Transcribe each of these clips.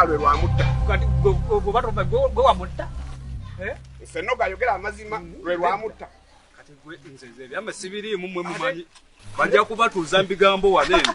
lwe lwamutta kati gwe wamutta eh? nfennoga ayogera amazima lwe lwamutta kati gwe nze ebyama sibiriimu mwe mumanyi bajja kubatuuza mbigambo wano eno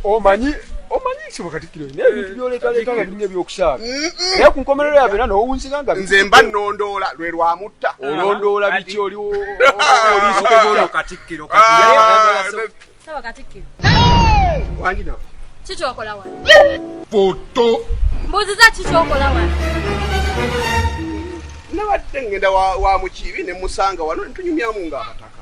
omanyi omanyi kibo katikiro naye eh, ebintu byolekaleeta nga biringa ebyokusaala naye ku nkomerero yabo era nowunzika nga nze mba nondoola lwe lwamutta olondoola biki oliwo oliisokeolo katikkiro katisawa katikkiro wangina kikyokola wa foto mbuziza kikyokola wa nabadde ngenda wa mukiibi ne musanga wano netunyumyamu nga abataka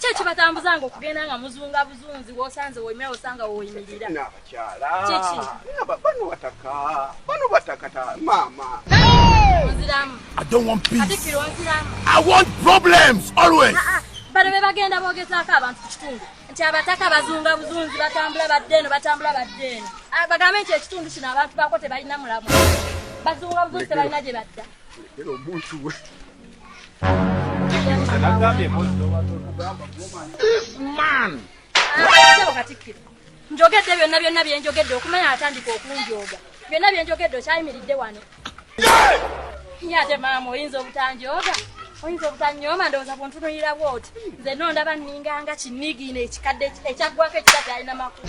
Kyo kibatambuzanga okugenda nga muzunga buzunzi wosanze woyimira wosanga woyimirira. Nabakyala. Kiki? Naba bano bataka. Bano bataka ta mama. Nziramu. I don't want peace. Ate kiro nziramu. I want problems always. Ah, ah. Bano be bagenda boogezaako abantu ku kitundu nti abataka bazunga buzunzi batambula badde eno batambula badde eno. Ah, bagambe nti ekitundu kino abantu bako tebalina mulamu. Bazunga buzunzi tebalina gye badda. Era omuntu we. njogedde byonna byonna byenjogedde okumanya atandika okunjooga byonna byenjogedde okyayimiridde wano ye ate maama oyinza obutanjooga oyinza obutanyooma ndowooza buntunulira bwoti nze nondaba ninganga kinigino ekikadde ekyaggwako ekitadde alina makulu